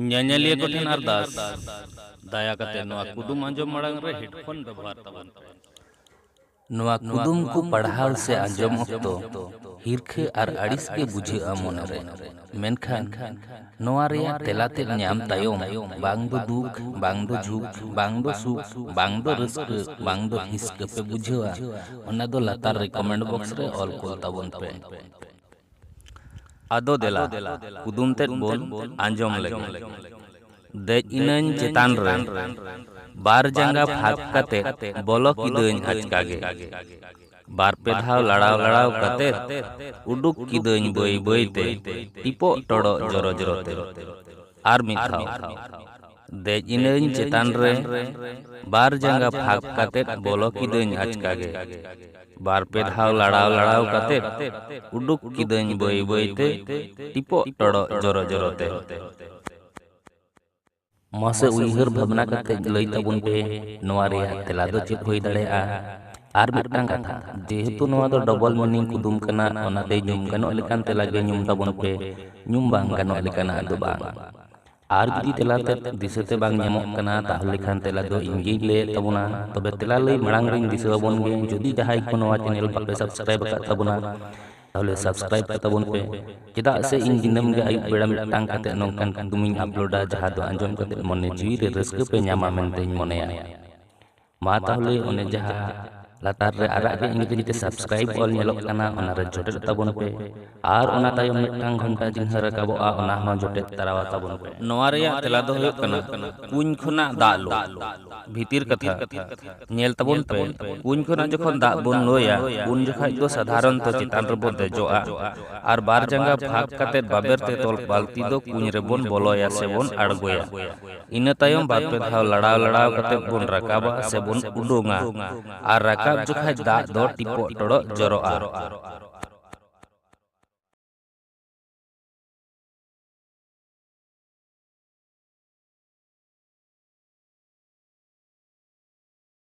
ᱧᱮᱧᱮᱞᱤᱭᱟᱹ ᱠᱚᱴᱷᱮᱱ ᱟᱨᱫᱟᱥ ᱫᱟᱭᱟ ᱠᱟᱛᱮ ᱱᱚᱣᱟ ᱠᱩᱫᱩᱢ ᱟᱸᱡᱚᱢ ᱢᱟᱲᱟᱝ ᱨᱮ ᱦᱮᱰᱯᱷᱳᱱ ᱵᱮᱵᱚᱦᱟᱨ ᱛᱟᱵᱚᱱ ᱯᱮ ᱱᱚᱣᱟ ᱠᱩᱫᱩᱢ ᱠᱚ ᱯᱟᱲᱦᱟᱣ ᱥᱮ ᱟᱸᱡᱚᱢ ᱚᱠᱛᱚ ᱦᱤᱨᱠᱷᱟᱹ ᱟᱨ ᱟᱹᱲᱤᱥ ᱜᱮ ᱵᱩᱡᱷᱟᱹᱜᱼᱟ ᱢᱚᱱᱮᱨᱮ ᱢᱮᱱᱠᱷᱟᱱ ᱱᱚᱣᱟ ᱨᱮᱭᱟᱜ ᱛᱮᱞᱟ ᱛᱮᱫ ᱧᱟᱢ ᱛᱟᱭᱚᱢ ᱵᱟᱝ ᱫᱚ ᱫᱩᱠ ᱵᱟᱝ ᱫᱚ ᱡᱷᱩᱠ ᱵᱟᱝ ᱫᱚ ᱥᱩᱠ ᱵᱟᱝ ᱫᱚ ᱨᱟᱹᱥᱠᱟᱹ ᱵᱟᱝ ᱫᱚ ᱦᱤᱥᱠᱟᱹ ᱯᱮ ᱵᱩᱡᱷᱟᱹᱣᱟ ᱚᱱᱟ ᱫᱚ ᱞᱟᱛᱟᱨ ᱨᱮ ᱠᱚᱢᱮᱱᱴ ᱵᱚᱠᱥ ᱨᱮ ᱚᱞ ᱠᱚᱞ ᱛᱟᱵᱚᱱ ᱯᱮ ᱟᱫᱚ ᱫᱮᱞᱟ ᱠᱩᱫᱩᱢ ᱛᱮᱫ ᱵᱚᱱ ᱟᱸᱡᱚᱢ ᱞᱮᱜᱮ ᱫᱮᱡ ᱤᱱᱟᱹᱧ ᱪᱮᱛᱟᱱ ᱨᱮ ᱵᱟᱨ ᱡᱟᱸᱜᱟ ᱯᱷᱟᱸᱠ ᱠᱟᱛᱮ ᱵᱚᱞᱚ ᱠᱤᱫᱟᱹᱧ ᱟᱪᱠᱟ ᱜᱮ ᱵᱟᱨ ᱯᱮ ᱫᱷᱟᱣ ᱞᱟᱲᱟᱣ ᱞᱟᱲᱟᱣ ᱠᱟᱛᱮ ᱩᱰᱩᱠ ᱠᱤᱫᱟᱹᱧ ᱵᱟᱹᱭ ᱵᱟᱹᱭ ᱛᱮ ᱴᱤᱯᱚᱜ ᱴᱚᱲᱚᱜ ᱡᱚᱨᱚ ᱡᱚᱨᱚ ᱛᱮ ᱟᱨ ᱢᱤᱫ ᱫᱷᱟᱣ ᱫᱮᱡ ᱤᱱᱟᱹᱧ ᱪᱮᱛᱟᱱ ᱨᱮ ᱵᱟᱨ ᱡᱟᱸᱜᱟ ᱯᱷᱟᱸᱠ ᱠᱟᱛᱮ ᱵᱚᱞᱚ ᱠᱤᱫᱟᱹᱧ ᱟᱪᱠᱟ ᱜᱮ ᱵᱟᱨ ᱯᱮ ᱫᱷᱟᱣ ᱞᱟᱲᱟᱣ ᱞᱟᱲᱟᱣ ᱠᱟᱛᱮ ᱩᱰᱩᱠ ᱠᱤᱫᱟᱹᱧ ᱵᱟᱹᱭ ᱵᱟᱹᱭ ᱛᱮ ᱴᱤᱯᱚᱜ ᱴᱚᱲᱚᱜ ᱡᱚᱨᱚ ᱡᱚᱨᱚ ᱛᱮ ᱢᱟᱥᱮ ᱩᱭᱦᱟᱹᱨ ᱵᱷᱟᱵᱽᱱᱟ ᱠᱟᱛᱮ ᱞᱟᱹᱭ ᱛᱟᱵᱚᱱ ᱯᱮ ᱱᱚᱣᱟ ᱨᱮᱭᱟᱜ ᱛᱮᱞᱟ ᱫᱚ ᱪᱮᱫ ᱦᱩᱭ ᱫᱟᱲᱮᱭᱟᱜᱼᱟ ᱟᱨ ᱢᱤᱫᱴᱟᱝ ᱠᱟᱛᱷᱟ ᱡᱮᱦᱮᱛᱩ ᱱᱚᱣᱟ ᱫᱚ ᱰᱚᱵᱚᱞ ᱢᱤᱱᱤᱝ ᱠᱩᱫᱩᱢ ᱠᱟᱱᱟ ᱚᱱᱟᱛᱮ ᱧᱩᱢ ᱜᱟᱱᱚᱜ ᱞᱮᱠᱟᱱ ᱛᱮᱞᱟ ᱜᱮ ᱧᱩᱢ ᱛᱟᱵᱚᱱ ᱯᱮ ᱧᱩᱢ ᱵᱟᱝ ᱜᱟᱱᱚᱜ ᱞᱮᱠᱟᱱᱟᱜ ᱫᱚ ᱵᱟᱝ ᱟᱨ ᱡᱩᱫᱤ ᱛᱮᱞᱟ ᱛᱮ ᱫᱤᱥᱟᱹ ᱛᱮ ᱵᱟᱝ ᱧᱟᱢᱚᱜ ᱠᱟᱱᱟ ᱛᱟᱦᱚᱞᱮ ᱠᱷᱟᱱ ᱛᱮᱞᱟ ᱫᱚ ᱤᱧ ᱜᱤᱧ ᱞᱟᱹᱭᱮᱫ ᱛᱟᱵᱚᱱᱟ ᱛᱚᱵᱮ ᱛᱮᱞᱟ ᱞᱟᱹᱭ ᱢᱟᱲᱟᱝ ᱨᱤᱧ ᱫᱤᱥᱟᱹ ᱟᱵᱚᱱ ᱜᱮ ᱡᱩᱫᱤ ᱡᱟᱦᱟᱸᱭ ᱠᱚ ᱱᱚᱣᱟ ᱪᱮᱱᱮᱞ ᱵᱟᱯᱮ ᱥᱟᱵᱥᱠᱨᱟᱭᱤᱵ ᱟᱠᱟᱫ ᱛᱟᱵᱚᱱᱟ ᱛᱟᱦᱚᱞᱮ ᱥᱟᱵᱥᱠᱨᱟᱭᱤᱵ ᱠᱟᱛᱟ ᱵᱚᱱ ᱯᱮ ᱪᱮᱫᱟᱜ ᱥᱮ ᱤᱧ ᱫᱤᱱᱟᱹᱢ ᱜᱮ ᱟᱹᱭᱩᱵ ᱵᱮᱲᱟ ᱢᱤᱫᱴᱟᱝ ᱠᱟᱛᱮ ᱱᱚᱝᱠᱟᱱ ᱠᱩᱫᱩᱢᱤᱧ ᱟᱯᱞᱳᱰᱟ ᱡᱟᱦᱟᱸ ᱫᱚ ᱟᱸᱡᱚᱢ ᱠᱟᱛᱮ ᱢᱚᱱᱮ ᱡᱤᱣᱤ ᱨᱮ ᱨᱟᱹᱥᱠᱟᱹ ᱯᱮ ᱧᱟᱢᱟ ᱢᱮᱱᱛᱮᱧ ᱢᱚᱱᱮᱭᱟ ᱢᱟ ᱛᱟᱦᱚᱞᱮ ᱚᱱᱮ ᱡᱟᱦᱟᱸ ᱞᱟᱛᱟᱨ ᱨᱮ ᱟᱨᱟᱜ ᱜᱮ ᱤᱝᱨᱮᱡᱤ ᱛᱮ ᱥᱟᱵᱥᱠᱨᱟᱭᱤᱵ ᱚᱞ ᱧᱮᱞᱚᱜ ᱠᱟᱱᱟ ᱚᱱᱟ ᱨᱮ ᱡᱚᱴᱮᱫ ᱛᱟᱵᱚᱱ ᱯᱮ ᱟᱨ ᱚᱱᱟ ᱛᱟᱭᱚᱢ ᱢᱤᱫᱴᱟᱝ ᱜᱷᱚᱱᱴᱟ ᱪᱤᱱᱦᱟᱹ ᱨᱟᱠᱟᱵᱚᱜᱼᱟ ᱚᱱᱟ ᱦᱚᱸ ᱡᱚᱴᱮᱫ ᱛᱟᱨᱟᱣᱟ ᱛᱟᱵᱚᱱ ᱯᱮ ᱱᱚᱣᱟ ᱨᱮᱭᱟᱜ ᱛᱮᱞᱟ ᱫᱚ ᱦᱩᱭᱩᱜ ᱠᱟᱱᱟ ᱠᱩᱧ ᱠᱷᱚᱱᱟᱜ ᱫᱟᱜ ᱞᱩ ᱵᱷᱤᱛᱤᱨ ᱠᱟᱛᱷᱟ ᱧᱮᱞ ᱛᱟᱵᱚᱱ ᱯᱮ ᱠᱩᱧ ᱠᱷᱚᱱᱟᱜ ᱡᱚᱠᱷᱚᱱ ᱫᱟᱜ ᱵᱚᱱ ᱞᱩᱭᱟ ᱩᱱ ᱡᱚᱠᱷᱟᱡ ᱫᱚ ᱥᱟᱫᱷᱟᱨᱚᱱᱛᱚ ᱪᱮᱛᱟᱱ ᱨᱮᱵᱚᱱ ᱫᱮᱡᱚᱜᱼᱟ ᱟᱨ ᱵᱟᱨ ᱡᱟᱸᱜᱟ ᱯᱷᱟᱸᱠ ᱠᱟᱛᱮ ᱵᱟᱵᱮᱨ ᱛᱮ ᱛᱚᱞ ᱵᱟᱹᱞᱛᱤ ᱫᱚ ᱠᱩᱧ ᱨᱮᱵᱚᱱ ᱵᱚᱞᱚᱭᱟ ᱥᱮᱵᱚᱱ ᱟᱬᱜᱚᱭᱟ ᱤᱱᱟᱹ ᱛᱟᱭᱚᱢ ᱵᱟᱨ ᱯᱮ ᱫᱷᱟᱣ ᱞᱟᱲᱟᱣ ᱞᱟᱲᱟᱣ ᱠᱟᱛᱮ ᱵᱚᱱ ᱨᱟᱠᱟᱵᱟ ᱥᱮ ᱵᱚᱱ ᱩᱰᱩᱝᱟ ᱟᱨ ᱨᱟᱠᱟᱵ ᱡᱚᱠᱷᱟᱡ ᱫᱟᱜ ᱫᱚ ᱴᱤᱯᱚᱜ ᱴᱚᱲᱚᱜ ᱡᱚᱨᱚᱜᱼᱟ